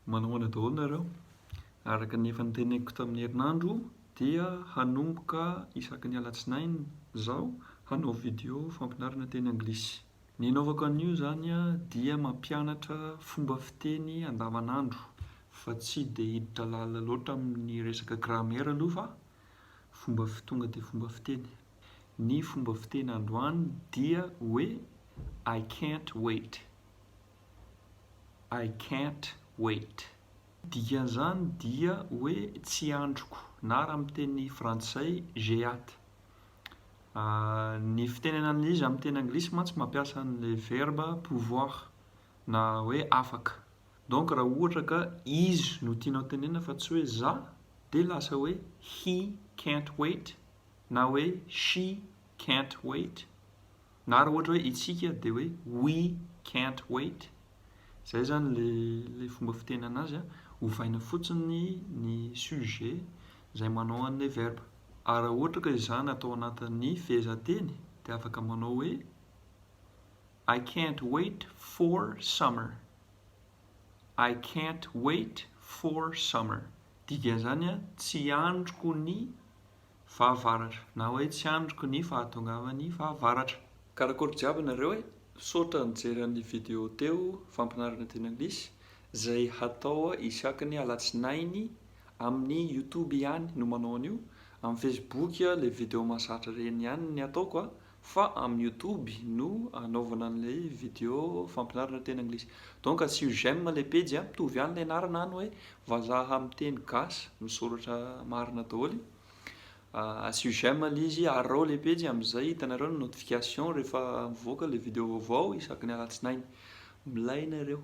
Manao ahoana daholo nareo? Araka ny efa noteneniko tamin'ny herinandro dia hanomboka isaky ny alatsinainy zaho hanao video fampianarana teny anglisy. Ny anaovako an'io zany dia mampianatra fomba fiteny andavanandro fa tsy dia hiditra lalina loatra amin'ny resaka grammaire aloha fa fomba fi- tonga dia fomba fiteny. Ny fomba fiteny androany dia hoe I can't wait. I can't wait. Ny dikan'izany dia hoe tsy andriko na raha amin'ny teny frantsay j'ai hâte. Ny fitenenana izy amin'ny teny anglisy mantsy mampiasa an'ilay verba pouvoir na hoe afaka. Donc raha ohatra ka izy no tianao tenenina fa tsy hoe za dia lasa hoe he can't wait na hoe she can't wait. Na raha ohatra hoe isika dia hoe we can't wait, izay zany ilay fomba fiteny anazy an, ovaina fotsiny ny sujet izay manao an'ilay verbe. Ary raha ohatra ka izany atao anatin'ny fehezanteny dia afaka manao hoe I can't wait for summer, I can't wait for summer, dikan'izany an, tsy andriko ny Fahavaratra. Na hoe tsy andriko ny fahatongavan'ny fahavaratra. Karakôry jiaby nareo e! Misaotra nijery an'ly video teo fampinarana teny anglisy zay hatao isaky ny alatsinainy amin'ny youtube ihany no manao an'io, amin'ny facebook le video mahazatra reny ihany ny ataoko a! Fa amin'ny youtube no anaovana an'ilay video fampianarana teny anglisy. Donc asio j'aime ilay pejy a, mitovy ihany ilay anarana any hoe vazaha amin'ny teny gasy misoratra marina daholo. Asio j'aime ilay izy, arao ilay pejy amin'izay hitanareo ny notification rehefa mivoaka ilay video vaovao isaky ny alatsinainy. Milay nareo.